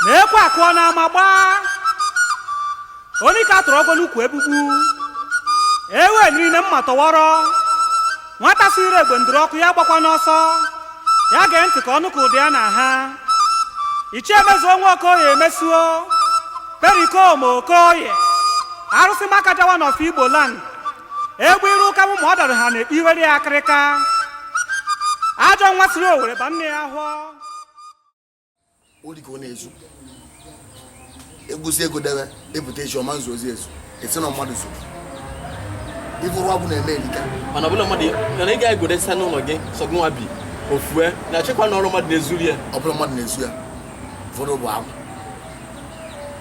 na ekwe akụọ n'ama agbaa onye ka tụrụ ọgọ n'ukwu egbugbu ewe niile mma tọwọrọ nwata sịrị egbe ndụrụ ọkụ ya gbakwa n'ọsọ ya gee ntị ka ọ nụ ka ụda ya na ha ichie Mezuo nwa Okoye Mezuo Pericomo Okoye arụsị makaja one of Igbo land egbe iru ụka bụ ma ọ dara ha na iwere ya akịrịka ajọ nwa siri owere ba nne ya ahọ ori ka ọ na-ezu egusi ego debe ebute echi ọma nzu ozi ezu esi na mmadụ zuru ife ụrụ agwụ na-eme erika mana ọbụla mmadụ mana ị gaghị egode site n'ụlọ gị sọ gị nwa bi ofue na achịkwa na ọrụ mmadụ na-ezuru ya ọ bụla mmadụ na-ezu ya ụfọdụ bụ agwụ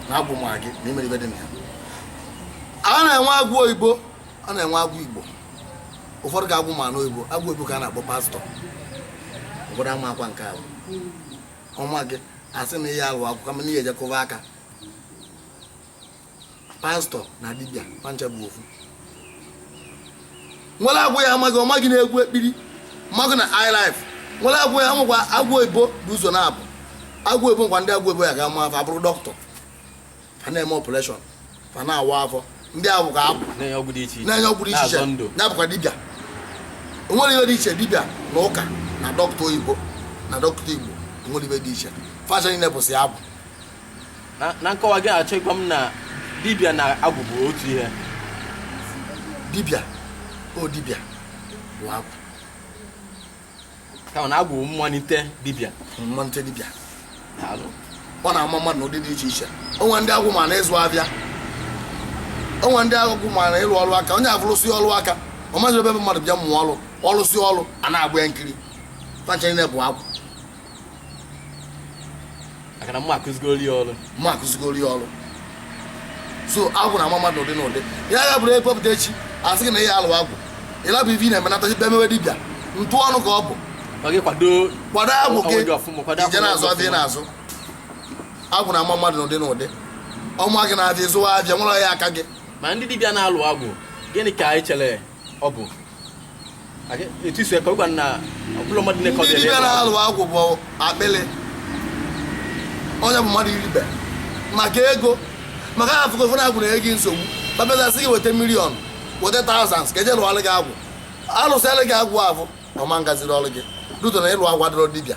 na agwụ ma gị na e nwere ife dị na ya a na-enwe agwụ oyibo a na-enwe agwụ igbo ụfọdụ ka agwụ ma n'oyibo agwụ oyibo ka a na-akpọ pastor ụfọdụ ama akwa nke ahụ ọ ma gị a sị na ị ya-alụ agwụ mana ihe ejekọba aka pastor na dibịa fa ncha bụ ofu nwere agwụ ya ama gị ọ ma gị n'egwu ekpili ma gị na highlife nwere agwụ ya amụkwa agwụ oyibo bụ ụzọ naabọ agwụ oyibo nkwa ndị agwụ oyibo ya ga-ama fa abụrụ doctor fa na-eme operation fa na-awa afọ ndị ahụ ka abụ na-enye ọgwụ dị iche iche na-enye ọgwụ dị iche na-azọ ndụ iche ya bụkwa dibịa o nwere ihe dị iche dibịa na ụka na dọkịta oyibo na dọkịta igbo o nwere ihe dị iche fa ncha niile bụsị agwụ na na nkọwa gị na-achọ ịgwa m na dibịa na agwụ bụ otu ihe dibịa o dibịa bụ agwụ kama na agwụ mmalite dibịa mmalite dibịa ọ na-ama mmadụ n'ụdị dị iche iche o nwe ndị agwụ ma na ịzụ afịa o nwe ndị agwụ ma na ịlụ ọrụ aka onye afụ rụsị ọrụ aka ọ maghị ebe mmadụ bịa mụọ ọrụ ọ lụsịa ọrụ a na-agba ya nkiri fa ncha bụ agwụ maka na mmụọ akụzigoro ya ọrụ mmụọ akụzigoro ya ọrụ so agwụ na-ama mmadụ n'ụdị n'ụdị ya ga bụrụ ekpepụta echi a sị gị na ị ya-alụ agwụ ị lapụ ife ị na-emenata ibe mewe dibịa ntụ ọnụ ka ọ bụ kwado agwụ gị ije na-azụ afịa na-azụ agwụ na-ama mmadụ n'ụdị n'ụdị ọ ma gị n'afịa ịzụwa afịa nwere ya aka gị ma ndị dibịa na-alụ agwụ gịnị ka anyị chere ọ bụ etu isi ekọ gwa na ọbụla mmadụ na-ekọ ndị dibịa na-alụ agwụ bụ akpịlị onye bụ mmadụ iri ife maka ego maka ha afụgo fụ na agwụ na-enye gị nsogbu fa abịazie sị gị weta million weta thousands ka e je lụọlụ gị agwụ a lụsịalụ gị agwụ afụ ọ ma-agaziri ọlụ gị duto na ịlụ agwụ adịrọ dibịa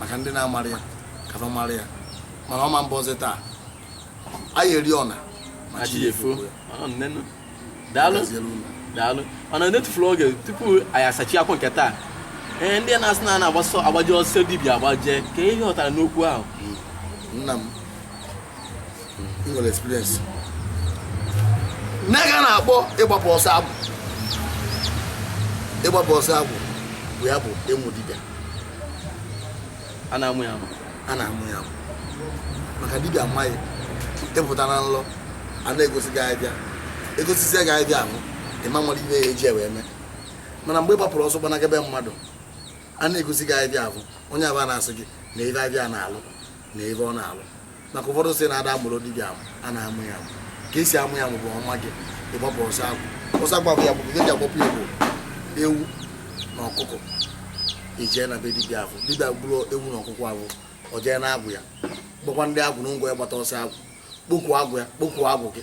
maka ndị na-amarọ ya ka fa mara ya mana ọ ma mbọ ọzọ taa anyị eri ọna ma chi ya efuo Ọ nne nụ. daalụ gaziere unu daalụ mana n'etufurọ oge tupu anyị asachi okwu nke taa ee ndị na-asị na a na-agba ọsọ agbaje ọsọ dibịa agbaje kee ihe ị ghọtara n'okwu ahụ nna m nwere experience nke a na-akpọ ịgbapụ ọsọ agwụ ịgbapụ ọsọ agwụ bụ ya bụ ịmụ dibịa a na-amụ ya amụ a na-amụ ya amụ maka dibịa ma gị ị pụta na nlọ a na-egosi gị abịa egosisi gị abịa ahụ ị marọ ihe e ji ya wee mee mana mgbe ị gbapụrụ ọsọ gbanaga be mmadụ a na-egosi gị abịa ahụ onye ahụ na-asị gị na ihe abịa na-alụ na ihe ọ na-alụ maka ụfọdụ sị na a da amụrọ dibịa amụ a na-amụ ya amụ ka esi amụ ya amụ bụ ọ ma gị ị gbapụ ọsọ agwụ ọsọ agwụ ya bụ gị ji agbapụ ya bụ ewu na ọkụkọ ị jee na be dibịa ahụ dibịa gburu ewu na ọkụkọ ahụ ọ jee na agwụ ya gbakwa ndị agwụ na ngwa ya gbata ọsọ agwụ kpokwu agwụ ya kpokwu agwụ gị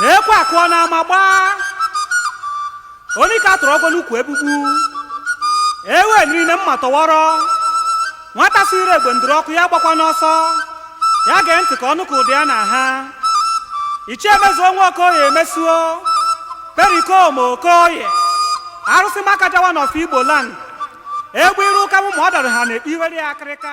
na ekwe akụọ na ama gbaa onye ka a tụrụ ọgwọ n'ukwu egbugbu ewe niile mma tọwọrọ nwata si ire egbe ndụrụ ọkụ ya gbakwa n'ọsọ ya gee ntị ka ọ nụ ka ụdị ya na ha ichie Mezuo nwa Okoye Mezuo Perikoma Okoye arụsị makaja one of Igbo land egbe iru ụka mụ ma ọ dara ha na-ekpe iwere ya akịrịka